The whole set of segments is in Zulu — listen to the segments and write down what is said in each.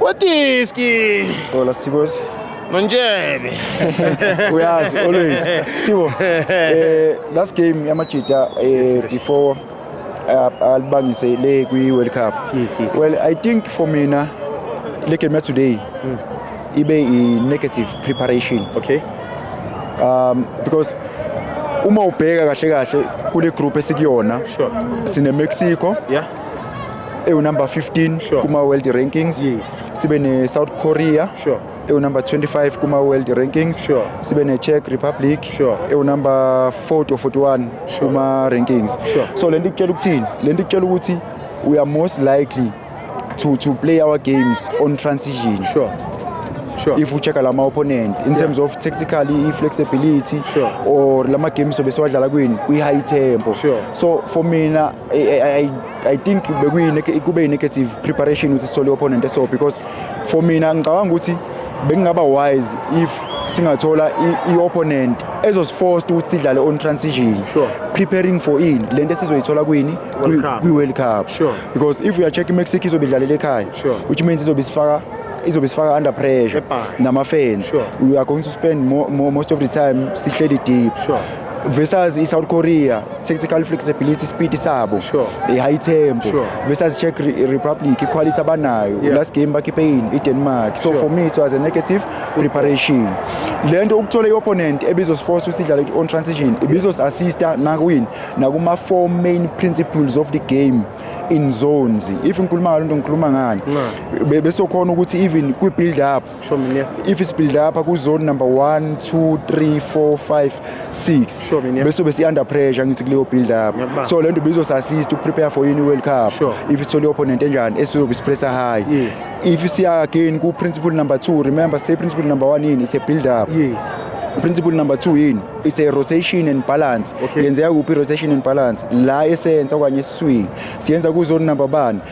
Watiski. Hola, Sibos. Manjebe. Uyaz, always. Sibo. Eh, last game yamajita eh before uh, alibangise le kwi World Cup. Yes, yes. Well, I think for mina le game today mm. ibe i negative preparation. Okay. Um because uma ubheka kahle kahle kule group esikuyona sure. sine Mexico yeah ewunumber 15 Sure. kuma-world rankings Yes. sibe ne-south korea Sure. ewunumber 25 kuma-world rankings Sure. sibe ne-czech republic Sure. ewunumber 40 or 41 Sure. kuma-rankings Sure. so le nto ikutshela ukuthini le nto ikutshela ukuthi we are most likely to, to play our games on transition Sure. Sure. if ucheck la ma-opponent in terms of tactically i-flexibility Sure. or la ma-games sobe siwadlala kwini kwi-high tempo Sure. so for mina I, I, I I think kube yi-negative preparation ukuthi sithole i-opponent eso because for mina ngicabanga ukuthi bekungaba wise if singathola i-opponent ezosiforced ukuthi sidlale on transition sure. preparing for in le nto esizoyithola kwini kwi-world cup sure. because if uyacheck imexico izobe idlalela ekhaya sure. which means izobe isifaka izobe sifaka under pressure nama-fans sure. we are going to spend mo mo most of the time sihleli deep sure. versus i-south korea tactical flexibility speed sabo sure. i-high tempo sure. versus check Re republic iquality abanayo yeah. last game bakhiphe yini i-denmark so sure. for me it was a negative preparation le nto ukuthola i-opponent ebizosiforce ukuthi idlale on transition ibizosiassista nakwini nakuma-four main principles of the game in zones if ngikhuluma ngalo nto ngikhuluma ngani besokhona ukuthi even kwi-build up Show me near. if sibuild apha ku zone number 1 2 3 4 5 6 Sure, mina. bese besi under pressure ngithi kuleyo build up Ngiyakubamba. so lento bizo assist uku prepare for any world cup Sure. if sithole opponent enjani esizobe sipressa high Yes. if siya again ku principle number 2 remember say principle number 1 yini is a build up Yes. principle number 2 yini it's a rotation and balance Okay. yenzeka kuphi rotation and balance la esenza okanye esiswini siyenza ku zone number 1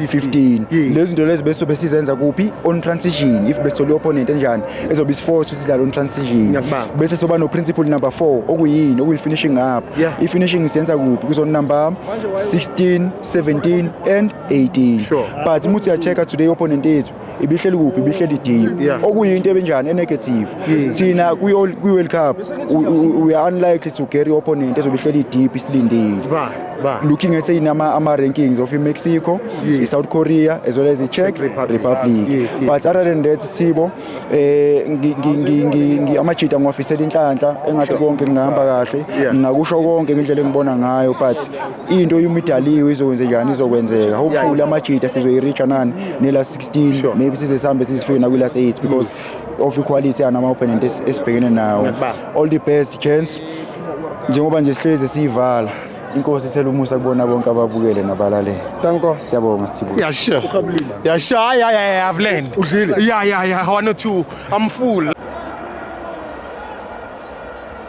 15 Yes. lezi zinto lezi besobe sizenza kuphi on transition if besole opponent enjani ezobe isiforce sidlala on transition Ngiyakubamba. bese soba no principle number 4 okuyini okuyi finishing up Yeah. i finishing siyenza kuphi kuzo number 16 17 and 18 Sure. but muthi ya check today opponent yethu ibihleli kuphi ibihleli deep yeah. okuyinto ebenjani enegative yes. thina kwi-world cup we are unlikely to carry opponent ezobe ihleli deep isilindile looking at sayini ama-rankings of imexico yes. i-south korea as well as i-czech republic, republic. Yes, yes. but other than that sibo um eh, amajita ngiwafisela inhlanhla engathi konke ngingahamba kahle ngingakusho konke ngendlela engibona ngayo but into uma idaliwe izokwenzekani izokwenzeka hopefully amajita sizoyi-reacha nani nela 16 maybe size sihambe sizifike nakwilast 8 because of equality anama-opponent esibhekene nawo all the best chance njengoba nje sihlezi siyivala inkosi ithela umusa kubona bonke ababukele nabalalele tanko siyabonga sibuya yeah sure yeah sure yeah yeah yeah i've learned udlile yeah yeah yeah one or two i'm full